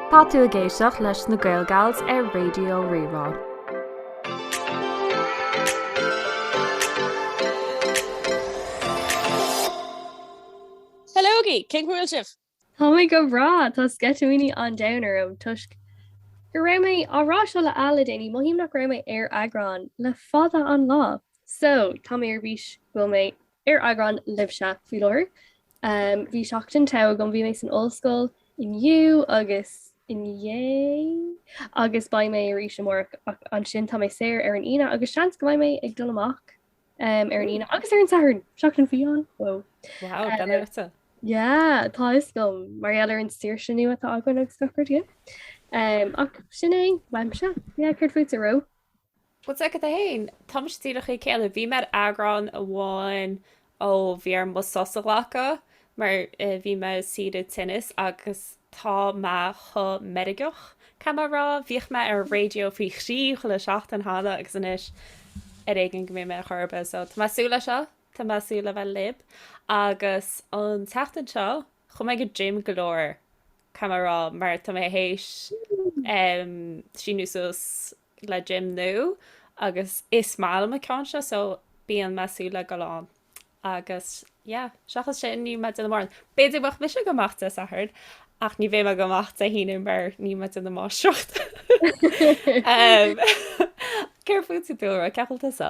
Tá tú ag éisteacht leis na GaelGals ar Raidió Rí-Rá. Hello! Cén chaoi a bhfuil sibh? Tá mé go breá! Tá sceitimíní an domhain orm toisc go raibh mé á rá seo le Ella le déanaí, mothaím nach raibh mé ar eagrán le fada an lá. So, tá mé ar bís go bhfuil mé Ar eagrán libhse faoi láthair, bhí seachtain togha agam, bhí mé san ollscoil inniu agus inné agus beidh mé arís amárach ach ansin tá mé saor ar an Aoine agus seans go mbeidh mé ag dul amach ar an Aoine agus ar an Satharn, seachtain fiáin! Whoa. Wow, gan air duit. Yeah, tá fhios agam, mar gheall ar an saoirse nua atá againn agus gach rud, yeah. Ach sin é, uaimse, yeah, céard fútsa a Ró? Bhuel, cosúil leat féin, tá mise díreach mar a chéile. Bhí mé ar eagrán amháin ó bhí orm mo sos a ghlacadh mar bhí mé ar saoire tinnis agus tá mé chomh meirgeach, caithfidh mé a rá. Bhíodh mé ar raidió faoi thrí chuile seachtain cheana agus anois ar éigin go mbíonn mé chor ar bith. So, tá mé ag súil le seo, tá mé ag súil le bheith libh agus an tseachtain seo chuaigh mé go gym go leor, caithfidh mé a rá, mar tá mé théis em síniú suas. le gym nua agus is maith liom an ceann seo so bíonn mé ag súil le gabháil ann agus yeah seachas sin níl mé ag déanamh mórán. B'fhéidir go mbeidh mise ag gabháil amach Dé Sathairn ach ní bheidh mé ag gabháil amach Dé hAoine mar níl mé ag déanamh máistreacht. um, Céard fútsa Dúlra cén chaoi a bhfuil tusa?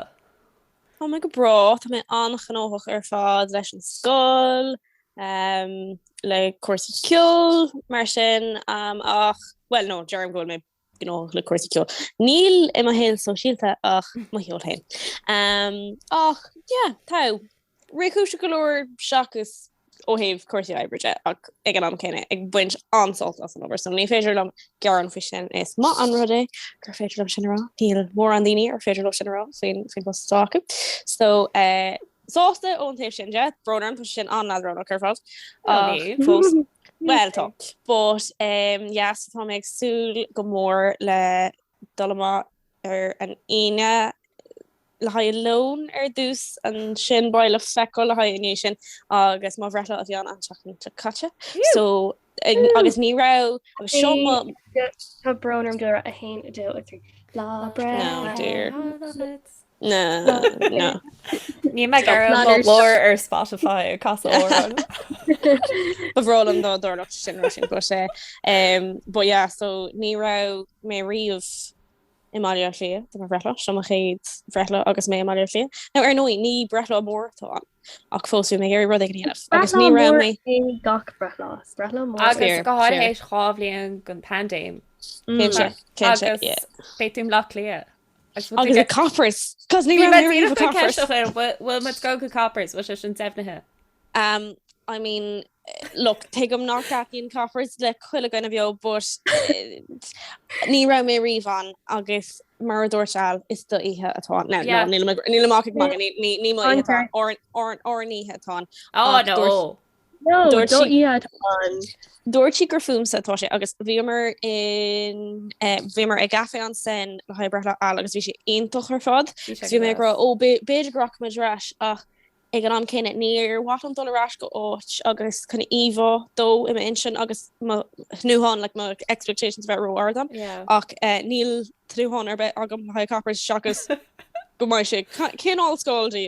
Tá mé go breá, tá mé an-ghnóthach ar fad leis an scoil, um, le cúrsaí ceoil mar sin um, ach, well no, deirim go bhfuil mé gnóthach le cúrsaí ceoil. Níl i mo shaol sóisialta ach mo cheol féin. Um, ach, yeah, tá réchúiseach go leor seachas ó thaobh cúrsaí oibre ach ag an am céanna ag baint an-sult as an obair so. Ní féidir liom gearán faoi sin is maith an rud é gur féidir liom sin a rá. Níl mórán daoine ar féidir leo sin a rá faoin faoin bpost atá acu. So uh, sásta ón taobh sin de, brón orm, tá sé sin an-leadránach ar fad. fós. Well tá. But um, yes, tá mé ag súil go mór le dul amach ar an Aoine le haghaidh lón ar dtús ansin beidh le feiceáil le haghaidh ina dhiaidh sin agus mo bhreithlá a bhí ann an tseachtain seo caite so agus ní raibh agus seo Tá brón orm Dúlra a haon a dó a trí lá bre Na na. Ní me Stop. gur Ná mo níor lár stop. ar Spotify cas amhrán. Ba bhreá liom dá dtarlódh sé sin nó sin go sé. Um, but yeah, so ní raibh mé riamh i mBaile Átha Cliath, do mo bhreithlá, seo mo chéad bhreithlá agus mé i mBaile Átha Cliath. Now ar ndóigh, ní breithlá mór atá ann, ach fós bhí mé ag iarraidh rud éigin a dhéanamh. Agus Breithlá ní raibh mór mé... é gach breithlá. Is breithlá mór. Agus Fair, go háirithe fair. tar éis dhá bhliain den phaindéim. Cén Mm. sé, cén sé, agus yeah. Beidh tú i mBleá Cliath. Agus ag Coppers, cos ní raibh mé riamh ag Coppers. Bhfuil muid ag dul go Coppers, bhfuil sé sin deimhnithe? Um, I mean, look, tuigim nach dtaitníonn Coppers le chuile dhuine bheo, but eh, ní raibh mé riamh ann agus mar a dúirt Al, is do oíche atá. No, yeah. no, nílim ach ag magadh, ní mo oíche atá, ár oíche atá. Oh, no. No, Dúirt do sí- iad an. Dúirt sí gur fúmsa atá sé agus bhíomar in eh, bhíomar ag Café en Seine le haghaidh breithlá Al agus bhí sé iontach ar fad. Bhí sé Agus bhí mé ag gas. rá ó bé- b'fhéidir go rachaidh muid ar ais ach ag an am céanna níor mhaith liom dul ar ais go áit agus chun íomhá dó i m'intinn agus mo thnúthán like my expectations bheith ró-ard dom Yeah. ach eh, níl tnúthán ar bith agam le haghaidh Coppers seachas go mbeidh sé ca- cineál ollscoil dí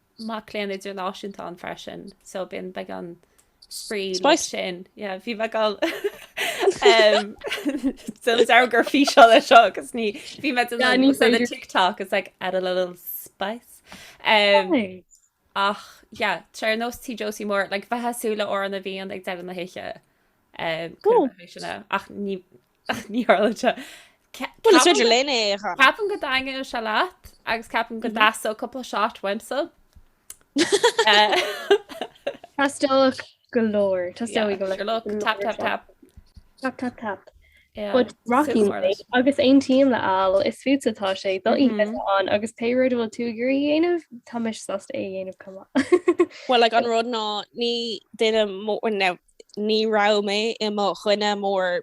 mac léinn idirnáisiúnta ann freisin, so bíonn beidh an spraoi Spice. sin. Yeah, bhí mé gal de gur fí seo le seo agus ní bhí mé Yeah, ní féidir. TikTok is like add a little spice. Um, Hey. ach yeah, tre nó tí Josie mór le like, bhí mé ag súil le Amhrán na bhFiann ag deireadh na hoíche um, Cool. sinna ach ní Ach ní tharla sé. Bhuel, is féidir linn é a chanadh. Ceapaim go dtaitneodh sé leat agus ceapaim go dteastódh cúpla shot uaimse. Teastódh go leor, teastóidh go leor. Tap, tap, tap. Tap, tap, tap. Rocky agus aontaím le hAl is fút atá sé do oíche atá ann agus pé rud bhfuil tú ag iarraidh a dhéanamh táimse sásta é a dhéanamh chomh maith. Well like an rud ná ní duine mó ní raibh mé i mo dhuine mór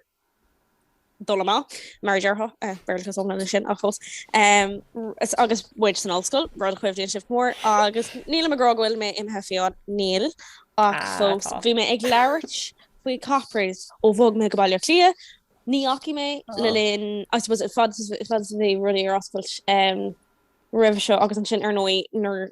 dul amach, mar a déarfá eh, Béarlachas iomlán é sin, ach cos, em, s- agus muid san ollscoil, rud a chuimhníonn sibh go mór, agus nílim ag rá go bhfuil mé imithe fiáin, níl, ach Ah, fós, tá. bhí mé ag labhairt faoi Coppers ó bhog mé go Baile Átha Cliath, ní dheachaigh mé Oh. le linn, I suppose, a fhad is- a fhad is a bhí rudaí ar oscailt em, roimhe seo, agus ansin ar ndóigh, nuair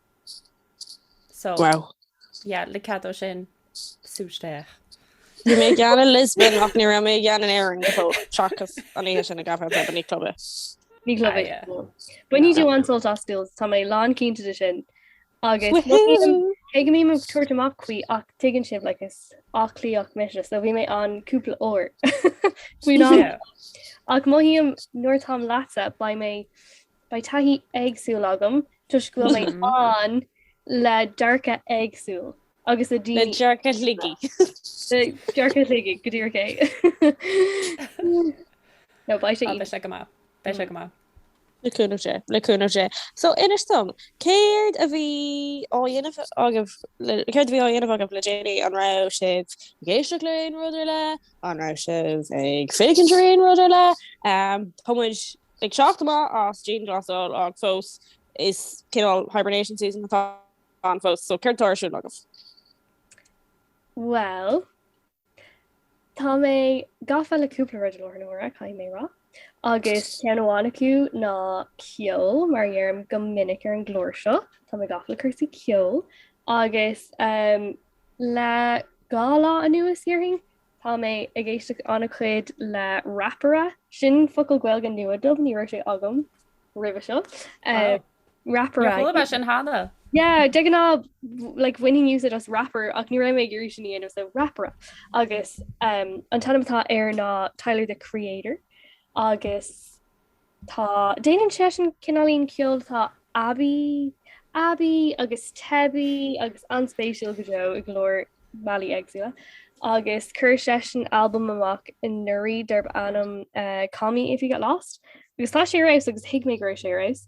So, Wow. yeah, le cead ó sin, súis féach. Bhí mé ag ceann in Lisbon ach ní raibh mé ag ceann in Éirinn go fóill, seachas an oíche sin i gCafé Pub en Ní club é. Ní club Ah, é. yeah. Bainfidh tú an-sult as schools, tá mé lán cinnte de sin. Agus Woohoo! cé go mbím ag tabhairt amach faoi ach tuigeann sibh like, is Áth Cliathach mise, so bhí mé ann cúpla uair faoin am. Yeah. Ach mothaím nuair táim leatsa, beidh mé Beidh taithí éagsúil agam toisc go bhfuil mé ann le dearcadh éagsúil agus le daoine. Le dearcadh Shligigh. Le dearcadh Shligigh go díreach é. No, beidh sé. Beidh sé go maith. Beidh sé go maith. Le cúnamh Dé. Le cúnamh Dé. So, inis dom, céard a bhí á dhéanamh agaibh, céard a bhí á dhéanamh agaibh le déanaí? An raibh sibh ag éisteacht le aon rud ar leith? An raibh sibh ag féachaint ar aon rud ar leith? Tá muid Ag teacht amach as dianghlasáil ach fós, is cineál hibernation season atá ann fós, so céard atá ar siúl agaibh? Bhuel, tá mé gafa le cúpla rud i láthair na huaire caithfidh mé a rá agus ceann amháin acu ná ceol mar a dheirim go minic ar an gclár seo, tá mé gafa le cúrsaí ceoil agus um, le dhá lá anuas déarfainn Tá mé ag éisteacht an-chuid le rapaire. Sin focal Gaeilge nua dom, ní raibh sé agam roimhe seo. Rapaire. Níor chuala mé sin cheana. Yeah, de ghnáth like bhainfinn úsáid as rapper ach ní raibh mé ag iarraidh sin a dhéanamh so rapaire. Agus an t-ainm atá air ná Tyler the Creator agus Tá, déanann seisean cineáilín ceoil atá aibí, aibí agus teibí agus an-spéisiúil go deo i go leor bealaí éagsúla. Agus chuir seisean albam amach anuraidh darb ainm eh, Call Me If You Get Lost, agus tá sé ar fheabhas agus thuig mé go raibh sé ar fheabhas.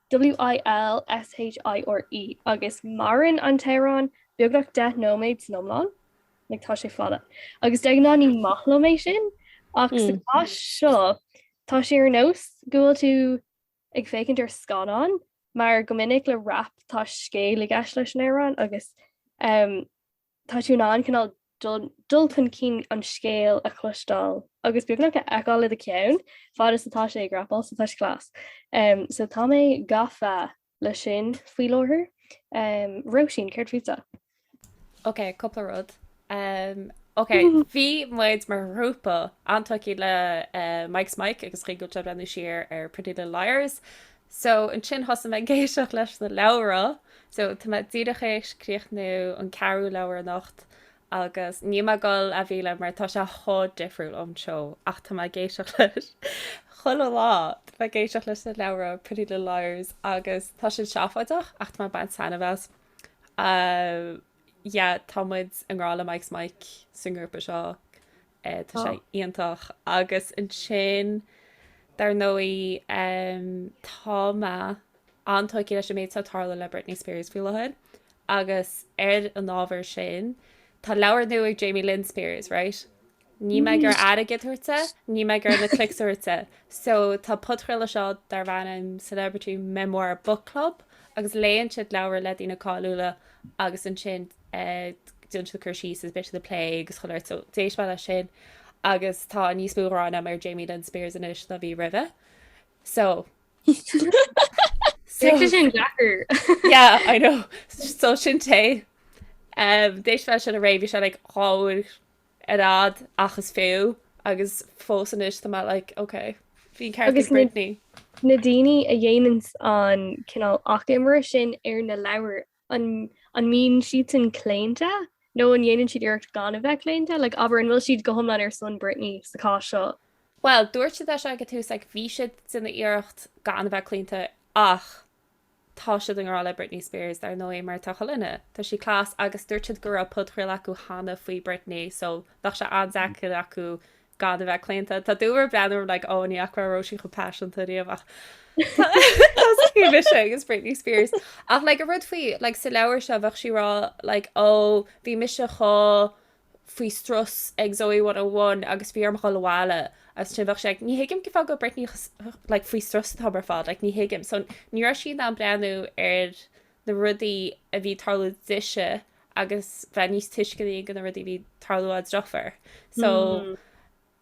W I L S H I R E, agus maireann an t-amhrán beagnach deich nóiméad san iomlán, like tá sé fada, agus de ghnáth ní maith liom é sin, ach sa chás seo tá sé ar nós go bhfuil tú ag féachaint ar scannán mar go minic le rap tá scéal i gceist leis an amhrán agus Tá tú in ann cineál dul chun cinn an scéil a chloisteáil agus beagnach a fheiceáil i do cheann fad is atá sé ag rapáil so tá sé class. So tá mé gafa leis sin faoi láthair. Róisín, céard fútsa? Ok, cúpla rud. Ok, bhí muid mar ghrúpa an-tógtha le Mike's Mic agus an chaoi go bhfuil sé ag breathnú siar ar Pretty Little Liars. So, ansin thosaigh mé ag éisteacht leis na leabhra. So, tá mé díreach tar éis críochnú an ceathrú leabhar anocht agus níl mé ag dul á mhilleadh mar tá sé chomh difriúil ón seó ach tá mé ag éisteacht leis chuile lá. Tá mé ag éisteacht leis na leabhra Pretty Little Liars agus tá sin seafóideach ach tá mé ag baint taitneamh as. yeah tá muid i ngrá le Mike's Mic sa ngrúpa seo eh tá sé iontach agus ansin dar ndóigh em tá mé an-tógtha leis an méid is atá ag tarlú le Britney Spears faoi láthair agus ar an ábhar sin tá leabhar nua ag Jamie Lynn Spears right Níl mé ag iarraidh airgead a thabhairt di, níl mé ag iarraidh na clicks a thabhairt di. So tá podchraoladh seo darb ainm Celebrity Memoir Book Club agus léann siad leabhar le daoine cáiliúla agus ansin déanann siad cur síos agus déanann siad plé agus chuile rud so d'éist mé leis sin agus tá níos mó gráin agam ar Jamie Lynn Spears anois ná bhí roimhe. So sin deacair? Yeah, I know so sin tae. Um, d'éist mé leis sin aréir bhí sé like uair ar fhad ach is fiú agus fós anois tá mé like ok bhí an ceart ag Britney. Na daoine a dhéananns an cineál achoimre sin ar na leabhair an an mbíonn siadsan claonta nó an dhéanann siad iarracht gan a bheith claonta, like abair an bhfuil siad go hiomlán ar son Britney sa gcás seo? Bhuel dúirt siad leis ag an tús like bhí siad ag déanamh iarracht gan a bheith claonta ach Tá siad i ngrá le Britney Spears, dar ndóigh, mar atá chuile dhuine, tá sí class agus dúirt siad go raibh podchraoladh acu cheana faoi Britney so bheadh sé an-deacair acu gan a bheith claonta. Tá tú ag breathnú orm like oh ní fhaca raibh raibh sí chomh paiseanta riamh ach Tá mise agus Britney Spears ach like a rud faoi like sa leabhar seo bheadh sí ag rá like oh bhí mise chomh faoi strus ag Zoey 101 agus bhí orm dhul abhaile agus ansin bheadh sí like ní thuigim cén fáth go raibh Britney like faoi strus an t-am ar fad like ní thuigim so ní raibh sí in ann breathnú ar na rudaí a bhí ag tarlú dise agus bheith níos tuisceanaí do na rudaí a bhí ag tarlú dá deirfiúr so mm.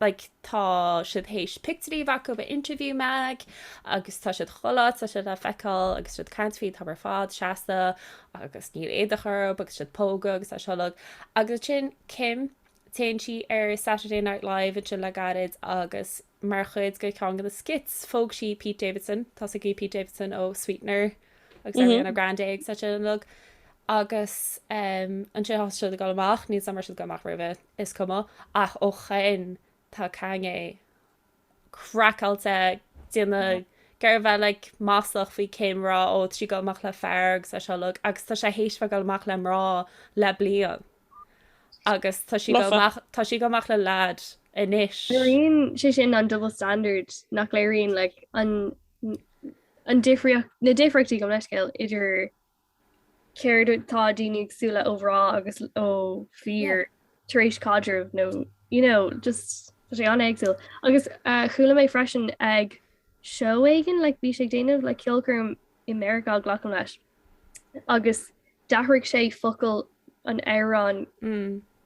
like tá siad théis pictiúirí a bheith acu in Interview mag agus tá siad chuile áit tá siad le feiceáil agus tá siad ag caint faoi an t-am ar fad seasta agus níl éadach orthu agus tá siad ag pógadh agus é seo uilig agus ansin Kim téann sí ar Saturday Night Live ansin le gairid agus mar chuid de cheann de na skits phóg sí Pete Davidson tá a fhios agaibh Pete Davidson ó Sweetener agus Ariana Grande agus é seo uilig agus ansin thosaigh siad ag dul amach níl a fhios agam an raibh siad ag dul amach roimhe. is cuma ach ó shoin tá Kanye craiceáilte ag déanamh ag iarraidh a bheith like maslach faoi Kim ag rá ó tá sí ag dul amach le fear agus é seo uilig agus tá sé théis a bheith ag dul amach le mná le bliain agus tá sí ag dul amach tá sí ag dul amach le lad anois Léiríonn sé sin an double standard nach léiríonn like an an difríocht na difríochtaí gabh mo leithscéal idir céard atá daoine ag súil leis ó mhná agus ó fhir tar éis caidreamh nó you know just tá sé an-éagsúil agus uh, chuala mé freisin ag seó éigin like bhí sé ag déanamh like ceolchoirm i Meiriceá glacaim leis agus d'athraigh sé focail an amhrán mm.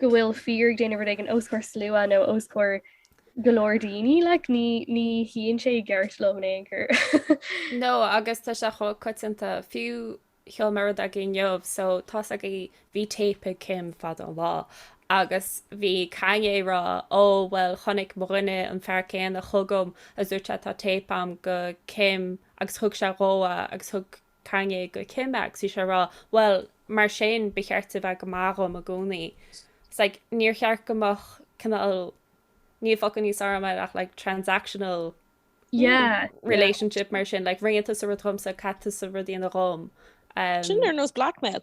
go bhfuil fear ag déanamh rud éigin os comhair slua nó os comhair go leor daoine like ní shuíonn sé i gceart liom in aon chor. Nó agus tá sé chomh coitianta fiú sheol mé rud agaibh inniu so tá's agaibh bhí téip ag Kim fad an lá agus bhí Kanye ag rá ó bhuel chonaic mo dhuine an fear céanna chugam a dúirt sé tá téip a'm de Kim agus thug sé dhom é agus thug Kanye go Kim agus bhí sé ag rá, Bhuel, mar sin ba cheart di a bheith go maith dhom i gcónaí. It's like, níor cheart go mbeadh cineál, níl focal níos armtha ach like transactional Yeah, yeah. relationship mar sin, like rinne tusa rud dhomsa, caithfidh tusa rud a dhéanamh dhom. Sin Um, ar nós blackmail.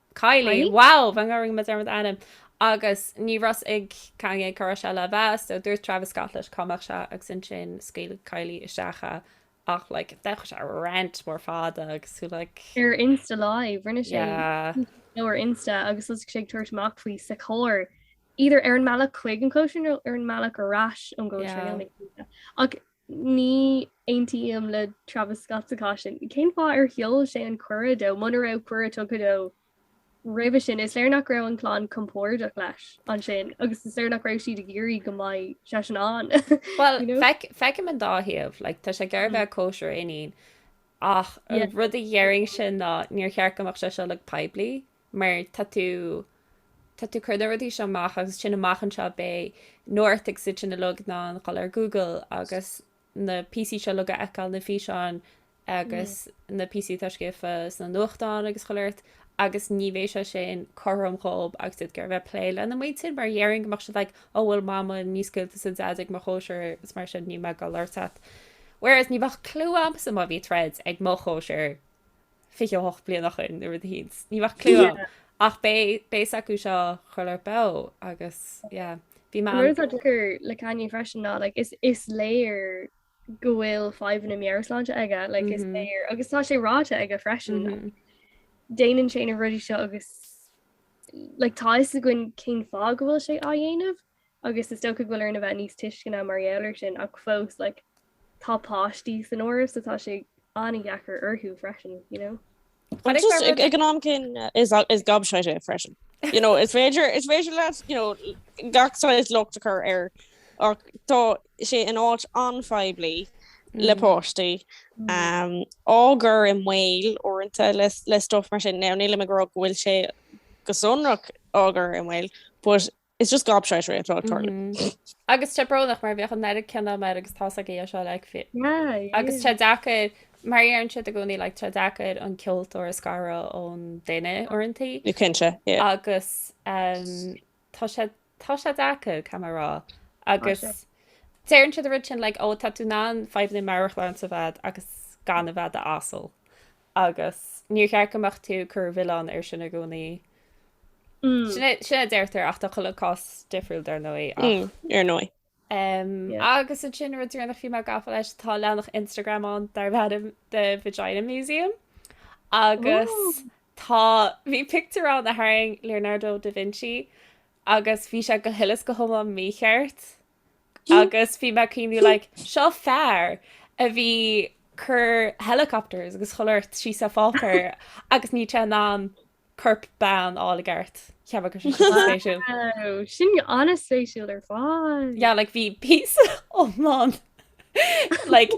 Kylie, Kylie? Wow, beagnach go ndearna mé dearmad ar a hainm agus ní raibh 's ag Kanye cá raibh sé le bheith so dúirt Travis Scott leis cá mbeadh sé agus ansin scaoil Kylie isteach é ach like ndeachaigh sé ar rant mór fada agus like Ar Insta Live, rinne sé yeah. nó ar Insta agus thosaigh sé ag tabhairt amach faoi sa charr. Either ar an mbealach chuig an gcóisir nó ar an mbealach ar ais ón gcóisir Yeah. ach Ní aontaím le Travis Scott sa chás sin. Cén fáth ar sheol sé an cuireadh dó muna raibh cuireadh tugtha dó roimhe sin? Is léir nach raibh an chlann compordach leis ansin agus is léir nach raibh siad ag iarraidh go mbeadh seisean ann. Bhuel, feicim an dá thaobh, like, tá sé ag iarraidh a bheith ag cóisir a iníon ach an rud a déarfainnse ná níor cheart go mbeadh sé seo like poiblí. mar tá tú, tá tú ag cur na rudaí seo amach agus sin amach anseo beidh North agus iad sin uilig in ann dul ar Google agus na píosaí seo uilig a fheiceáil na físeáin agus na píosaí atá scríofa sna nuachtáin agus chuile shórt agus ní bheidh sé sin cothrom dhóibh agus iad ag iarraidh a bheith ag plé lena muintir mar dhéarfainn go mbeadh siad like ó bhuel mama níor scaoil tusa daid ag mo chóisir is mar sin ní maith liom thú whereas ní bheadh clú agamsa má bhí troid ag mo chóisir 28 bliain ó shin nó rud éicint. Ní bheadh clú a'm. Ach beidh a fhios acu seo chuile rud beo agus yeah. An rud atá deacair le Kanye freisin ná like is léir go bhfuil fadhbanna meabhairshláinte aige like is léir agus tá sé ráite aige freisin. Déanann sé na rudaí seo agus like tá fhios againn cén fáth go bhfuil sé á dhéanamh. agus is dócha go bhfuil orainn a bheith níos tuisceana mar gheall air sin ach fós like tá páistí san áireamh so tá sé an-deacair orthu freisin, you know. But it's Just not ag really- ag an am céanna is gobshite é freisin. You know, is féidir is féidir leat you know, gach saghas locht a chur air ach tá sé in áit anphoiblí Mm. le páistí. Um, á gcur i mbaol uaireanta le, le stuff mar sin. Now, nílim ag rá go bhfuil sé go sonrach á gcur i mbaol, but It's just gobshitery atá ag tarlú. Mhm. Agus tá sé brónach mar bheadh an oiread ceana agam air agus tá sa gcéill seo like fi- Yeah, yeah. agus tá sé deacair mar a deireann siad i gcónaí like tá sé deacair an ceoltóir a scaradh ón duine uaireantaí Ó cinnte, yeah. agus um, tá sé tá sé deacair ce mar rá agus sé. deireann siad an rud sin like ó tá tú in ann fadhbanna meabhairshláinte a bheith agat agus gan a bheith i d'asal agus níor cheart go mbeadh tú ag cur an mhilleáin air sin i gcónaí. Sin a deirtear ach tá chuile cás difriúil dar ndóigh ach. Ar ndóigh. Agus ansin rud deireanach a bhí mé gafa leis, tá leathanach Instagram ann darb ainm The Vagina Museum agus tá, bhí pictiúr ann a tharraing Leonardo da Vinci agus bhí sé go huile is go hiomlán mícheart. agus bhí mé ag cuimhniú like seo fear a bhí ag cur helicopters agus chuile shórt síos ar pháipéar agus ní raibh sé in ann corp bean a fháil i gceart cheap go sin sin an-spéisiúil ar fad yeah like bhí píosa iomlán like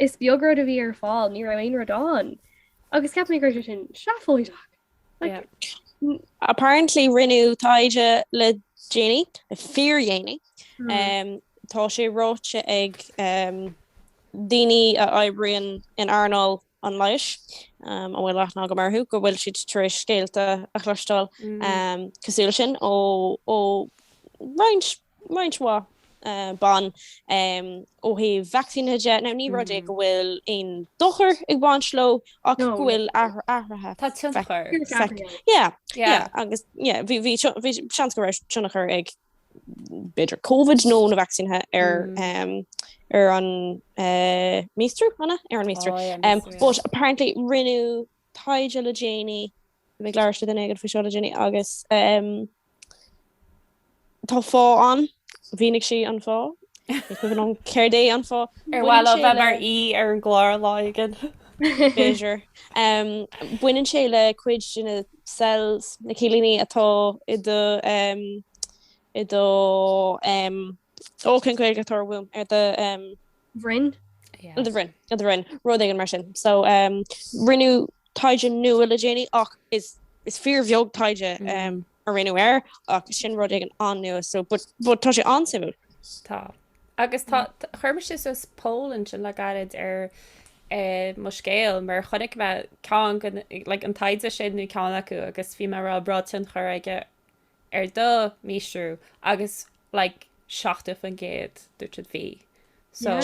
Is beag rud a bhí ar fáil, ní raibh aon rud ann. Agus ceapaim go raibh sé sin seafóideach. Like, Apparently rinneadh taighde le déanaí, le fíordhéanaí. Um, tá sé ráite ag um, daoine a oibríonn in earnáil an leighis, um, a bhfuil aithne agam orthu, go bhfuil siad tar éis scéalta a chloisteáil um, cosúil sin ó, ó roinnt roinnt mhaith ban ó thaobh vacsaínithe de. Now ní rud é go bhfuil aon dochar ag baint leo ach go bhfuil athruithe. Tá tionchar. Yeah, yeah agus yeah bhí seans go raibh tionchar ag b'fhéidir Covid nó na vacsaínithe ar ar an míostrú anna ar an míostrú. But apparently rinneadh taighde le déanaí, bhí mé ag labhairt le duine éigin faoi seo le déanaí agus tá fáth ann, mhínigh sí an fáth, ní cuimhin liom céard é an fáth. Ar mhaith léi bheith mar aoi ar an gclár lá éigin? B'fhéidir. Baineann sé le cuid de na cells, na cillíní atá i do, i do, Ó, cén Ghaeilge atá ar womb? Ar do bhroinn? Ar do bhroinn, ar do bhroinn, rud éigin mar sin. So rinneadh taighde nua le déanaí ach is fíorbheag taighde mm. a rinneadh air ach sin rud éigin an-nua so but tá sé an-suimiúil. Tá. Agus tá mm. chuir mise suas poll ansin le gairid ar eh, mo scéal mar chonaic mé cineál an taighde sin nó ceann acu agus bhí mé ag rá an raibh tionchar aige ar do míostrú agus like 70% dúirt siad bhí, so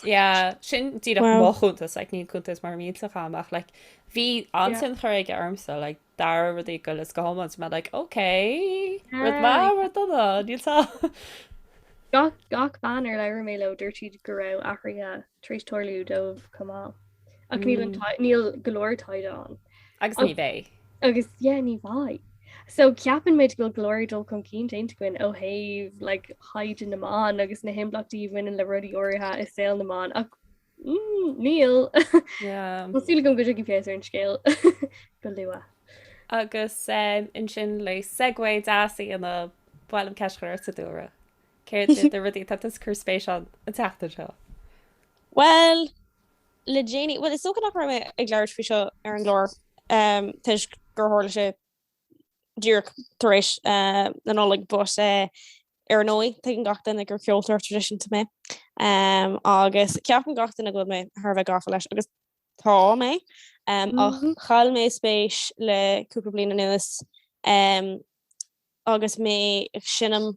yeah sin díreach mo chuntas, like níl cuntas mar mhílteach agam ach like bhí an-tionchar aige ormsa like d'athraigh rudaí go huile is go hiomlán bhí mé like ok rud maith rud dona níl a fhios a'm, gach gach bean ar labhair mé leo dúirt siad go raibh athruithe tar éis tarlú dóibh chomh maith. Ach níl an tai- níl go leor taighde ann. Agus Ag- ní bheidh. Agus yeah, ní bheidh. So ceapann muid go bhfuil go leor dul chun cinn déanta againn ó thaobh like, thaighde na mban agus na himblachtaí a bhaineann le rudaí áirithe i saol na mban ach mm, níl. Yeah. Tá súil agam go dtiocfaidh feabhas ar an scéal go luath. Agus um, ansin le segue deas í, an bhfuil an cheist, a Sadúra. Céard iad na rudaí atá tusa ag cur spéis ann an tseachtain seo? Bhuel, le déanaí, bhuel is dócha nach raibh mé ag labhairt faoi seo ar an gclár toisc gur tharla sé díreach tar éis na Nollag but ar ndóigh tuigeann gach duine gur ceoltóir traidisiúnta mé agus ceapann gach duine go bhfuil mé thar a bheith gafa leis agus tá mé ach chaill mé spéis le cúpla bliain anuas agus mé ag seinm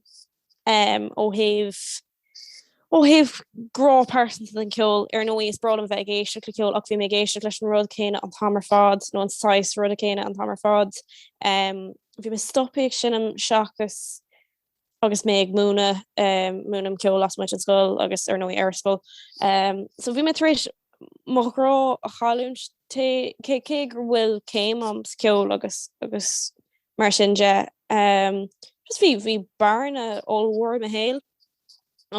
em ó thaobh ó thaobh grá pearsanta den cheol, ar ndóigh is breá liom a bheith ag éisteacht le ceol ach bhí mé ag éisteacht leis an rud céanna an t-am ar fad nó an saghas ruda céanna an t-am ar fad em bhí mé stopaithe ag seinm seachas agus mé ag múineadh em múinim ceol lasmuigh den scoil agus ar ndóigh ar an scoil em so bhí mé tar éis mo ghrá a chailliúint cé cé cé gur bhfuil céim a'm sa cheol agus agus Mar sin de, just bhí bearna ollmhór i mo shaol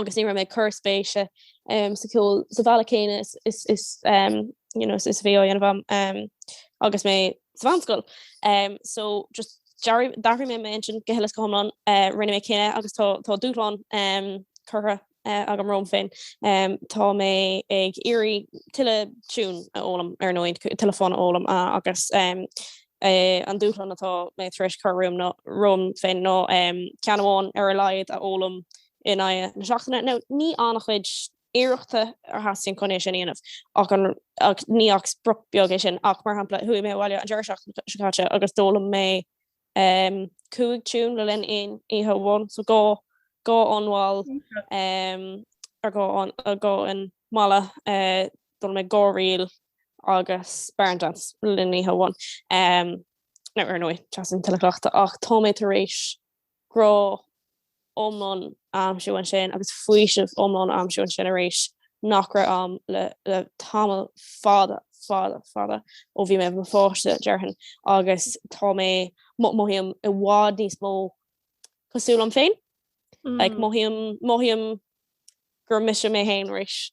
agus ní raibh mé ag cur spéise sa cheol sa bhealach céanna is, you know, is a bhí á dhéanamh agam agus mé sa mheánscoil. So just d'athraigh mé m'intinn go huile is go hiomlán. Rinne mé cinneadh agus tá tá dúshlán curtha agam romham féin. Tá mé ag iarraidh tuilleadh tune a fhoghlaim, ar ndóigh, tuilleadh fonn a fhoghlaim agus an dúshlán atá mé tar éis cur romham nó romham féin ná ceann amháin ar a laghad a fhoghlaim in aghaidh na seachtaine. Now ní an-chuid iarrachta a theastaíonn chun é sin a dhéanamh ach ní ach sprioc bheag é sin ach, mar shampla, chuaigh mé abhaile an deireadh seachtaine seo caite agus d'fhoghlaim mé 5 tune le linn aon oíche amháin so dhá fhonn mhall er dhá fhonn malla d'fhoghlaim mé dhá ríl agus barn dance le linn oíche amháin now ar ndóigh teastaíonn tuilleadh cleachta ach tá mé tar éis grá iomlán aimsiú ansin agus faoiseamh iomlán aimsiú ansin arís nach raibh ann le tamall fada, fada, fada ó bhí mé i mo pháiste, déarfainn, agus tá mé, mothaím, i bhfad níos mó cosúil liom féin. Like, mothaím, mothaím gur mise mé féin arís.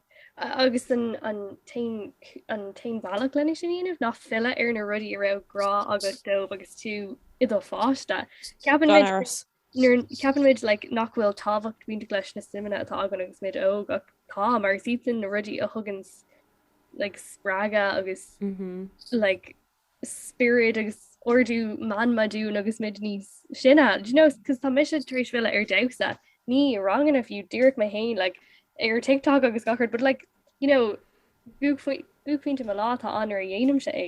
agus an t-aon bhealach lena sin a dhéanamh ná filleadh ar na rudaí a raibh grá agat dóibh agus tú i do pháiste. Ceapann muid ceapann muid nach bhfuil tábhacht bainteach leis na suimeanna atá againn agus muid óg ach tá mar is iadsan na rudaí a thugann like spreagadh agus like. spiorad agus ardú meanman dúinn agus muid níos sine do you know cos tá mise tar éis filleadh ar damhsa ní ranganna fiú díreach mé féin like ar TikTok agus gach rud but like you know buaic buaicphointe mo lá atá ann nuair a dhéanaim sé é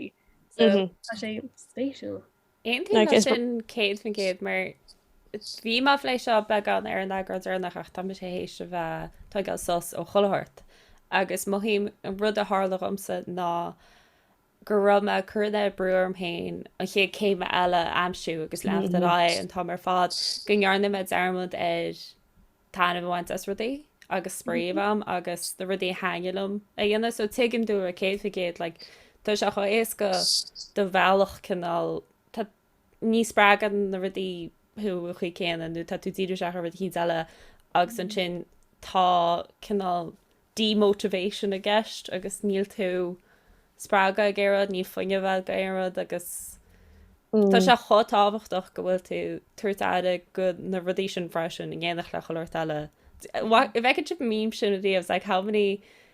so Mhm. tá sé spéisiúil Aontaím leis sin céad faoin gcéad mar bhí mé ag plé seo beagán ar Instagram freisin ach tá mise théis a bheith ag tógáil sos ó chuile shórt agus mothaím an rud a tharla dhomsa ná go raibh mé ag cur an oiread brú orm féin an chéad céim eile a aimsiú agus leanúint ar aghaidh an t-am ar fad go ndearna mé dearmad ar taitneamh a bhaint as rudaí agus spraoi a bheith agam agus na rudaí a thaitnigh liom a dhéanamh so tuigim duit céad faoin gcéad like tá sé chomh héasca do bhealach cineál ní spreagann na rudaí thú an chaoi céanna nó tá tú dírithe ar rud éicint eile agus ansin tá cineál demotivation i gceist agus níl tú spreagtha ag aon rud, níl fuinneamh agat ag aon rud agus tá sé chomh tábhachtach go bhfuil tú ag tabhairt aire go na rudaí sin freisin in éineacht le chuile shórt eile. If I could chip a meme sin a Liam, it's like how many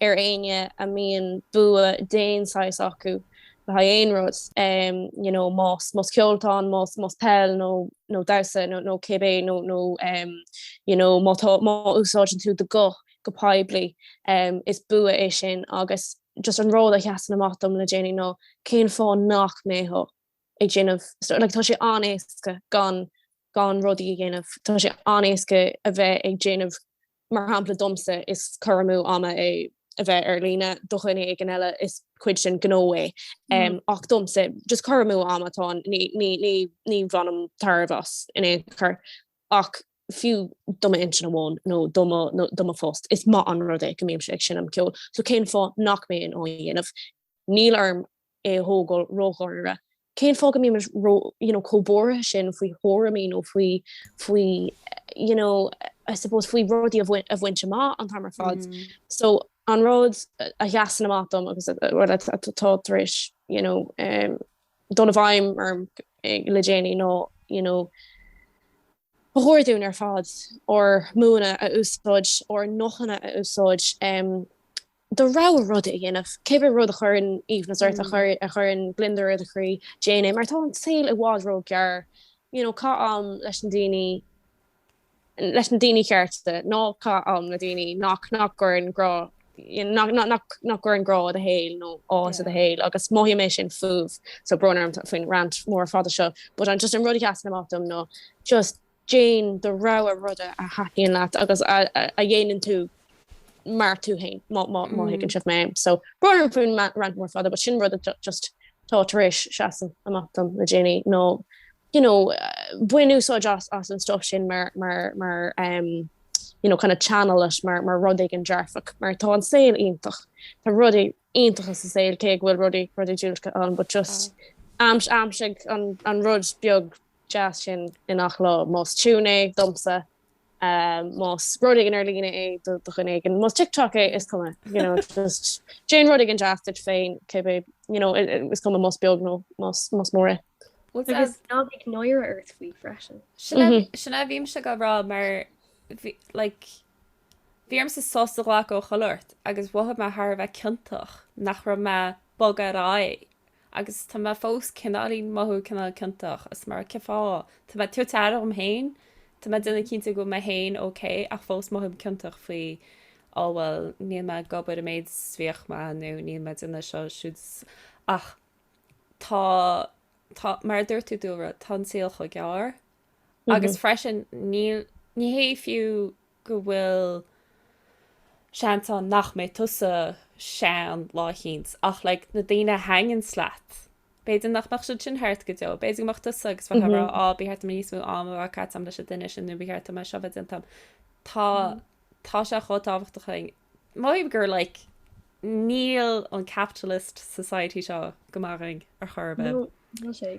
ar éinne a mbíonn bua d'aon saghas acu le haghaidh aon rud, you know, más más ceol, más más peil nó nó damhsa nó nó cibé nó nó, you know, má tá má úsáideann tú do ghuth go poiblí, is bua é sin agus just an rud a sheasann amach dom le déanaí ná cén fáth nach mbeifeá á dhéanamh, like tá sé an-éasca gan gan rudaí a dhéanamh. Tá sé an-éasca a bheith ag déanamh, mar shampla domsa is cur amú ama é a bheith ar líne, do dhuine éigin eile is cuid den ghnó é, ach domsa just cur amú ama atá, ní bhainim tairbhe as in aon chor ach fiú do m'intinn amháin nó do mo phost, is maith an rud é go mbímse ag seinm ceoil, so cén fáth nach mbeinn á dhéanamh? Níl orm é a thógáil ródháiríre. Cén fáth go mbímid ró, you know, chomh buartha sin faoi thuairimí nó faoi, faoi, you know, I suppose faoi rudaí a bhaint, a bhaint amach an t-am ar fad. So an rud a sheasann amach dom agus atá tar éis, you know, dul i bhfeidhm orm le déanaí ná, you know, ba chóir dúinn ar fad ár mbuanna a úsáid, ár nguthanna a úsáid, do rogha rud a dhéanamh, cibé rud a chuireann aoibhneas ort, a chuireann gliondar ar do chroí, déan é, mar tá an saol i bhfad ró-ghearr, you know, caith am leis na daoine, leis na daoine chearta, ná caith am le daoine nach, nach gcuireann grá, you know, nach, nach, nach gcuireann grá i do shaol nó áthas i do shaol agus mothaím é sin faoi, so brón orm faoin rant mór fada seo but just an rud a sheasann amach dom ná just Déan do rogha rud a thaitníonn leat agus a dhéanann tú mar tú féin má thuigeann sibh mé. So brón orm faoin rant mór fada but sin rud a just tá tar éis seasamh amach dom le déanaí ná you know bain úsáid as as an stuff sin mar mar mar um you know kind of channel it mar mar rud éigin dearfach mar tá an saol iontach tá rudaí iontacha sa saol cé go bhfuil rudaí rudaí diúltacha ann but just aims aimsigh an an rud beag deas sin i ngach lá, más tiún é, domsa, más rud éigin ar líne é do dhuine éigin, más TikTok é, is cuma, you know, just déan rud éigin deas duit féin, cibé, you know, is cuma más beag nó más mór é. Well, agus ná bíodh náire ort faoi freisin. Sin a bhímse ag rá mar, like, Bhí ormsa sos a ghlacadh ó chuile shórt agus mhothaigh mé thar a bheith ciontach nach raibh mé ag bogadh ar aghaidh agus tá mé fós cineáilín mothú cineál ciontach as mar a déarfá tá mé tabhairt aire dhom féin tá mé déanamh cinnte go bhfuil mé féin ok ach fós mothaím ciontach faoi á bhuel níl mé ag obair an méid is bhíodh mé nó níl mé déanamh seo siúd ach tá tá mar a dúirt tú dáiríre tá an saol chomh gearr Agus freisin, ní hé fiú go bhfuil seans ann nach mbeidh tusa sean lá éicint, ach like, na daoine a thaitníonns leat, b'fhéidir nach mbeadh siad sin thart go deo, b'fhéidir go mbeadh tusa agus bheifeá ag rá, á, ba cheart dom níos mó, á, am a bheith caite agam leis an duine sin, nó ba cheart dom é seo a bheith déanta agam. Tá, tá sé chomh tábhachtach aithint, mar gur like, níl an capitalist society seo go maith dhúinn ar chor ar bith. No, níl sé.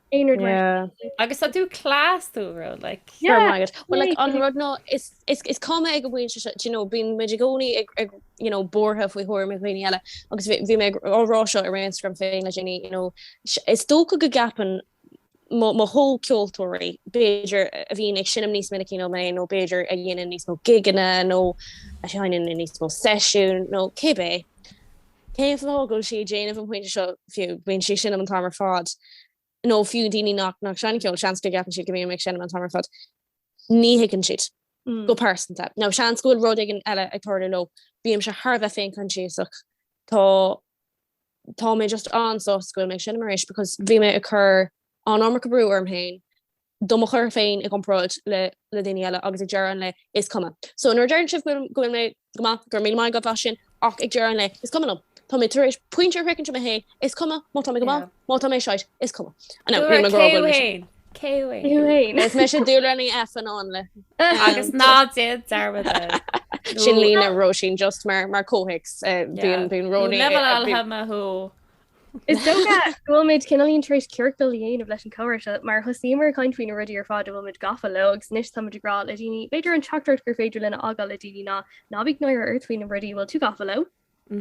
aon rud mar sin. Agus tá tú class tú a rud like. Go raibh maith agat. Well like an rud ná is is cuma ag an bpointe seo, do you know, bíonn muid i gcónaí ag ag you know buartha faoi thuairimí dhaoine eile agus bhí bhí mé ag á rá seo ar Instagram féin le déanaí you know is dócha go gceapann mo mo chomhcheoltóirí b'fhéidir a bhíonn ag seinm níos minice ná mé nó b'fhéidir a dhéanann níos mó gigeanna nó a sheinneann níos mó seisiún nó cibé Cén fáth a bhfuil sí ag déanamh an pointe seo fiú? Bíonn sí ag seinm an t-am ar fad. Nó fiú daoine nach seineann ceol, seans go gceapann siad go mbím ag seinm an t-am ar fad. Ní thuigeann siad, go pearsanta. Nó seans go bhfuil rud éigin eile ag tarlú leo. Bímse thar a bheith féinchoinsiasach. Tá tá mé just an-sásta go bhfuil mé ag seinm arís because bhí mé ag cur an-iomarca brú orm féin do mo chur féin i gcomparáid le le daoine eile agus ag deireadh an lae is cuma. So nuair a deireann sibh go bhfuil go bhfuil mé go maith go raibh míle maith agat as sin ach ag deireadh an lae is cuma liom. Tá mé tar éis pointe a shroichint amach féin is cuma má tá mé go maith yeah. má tá mé shite is cuma. I know, níl mé go raibh go bhfuil mé Cé féin? Is é sé dul rith F an an le. Agus ná déan dearmad. Sin lína roisín just mar mar cóhéics bhíon bíon roí le thú. Is dócha go bhfuil muid cineáilín tar éis ciorcal a dhéanamh leis an comhrá seo mar thosaíomar ag caint faoi na rudaí ar fad a bhfuil muid gafa leo agus anois tá muid ag rá le daoine, b'fhéidir an teachtaireacht gur féidir linn a fhágáil le daoine ná ná bíodh náire ort faoi na rudaí a bhfuil tú gafa leo,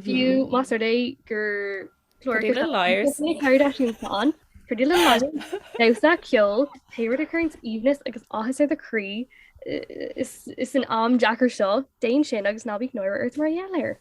fiú más rud é gur clár leis na Kardashians atá ann, Pretty Little Liars, damhsa, ceol, pé rud a chuireann aoibhneas agus áthas ar do chroí, insan am deacair seo, déan sin agus ná bíodh náire ort mar gheall air.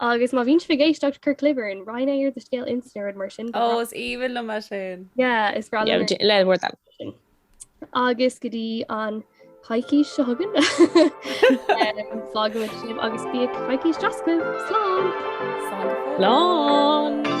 Agus má bhíonn sibh ag éisteacht, cuir clib orainn ar do scéal Insta nó rud mar sin. Ó, is aoibhinn liom é sin. Yeah, is breá liom é. Le bhur dtoil. Agus go dtí an choicís seo chugainn, fágfaimid sibh agus bíodh coicís deas agaibh. Slán! Slán go fóill. Slán!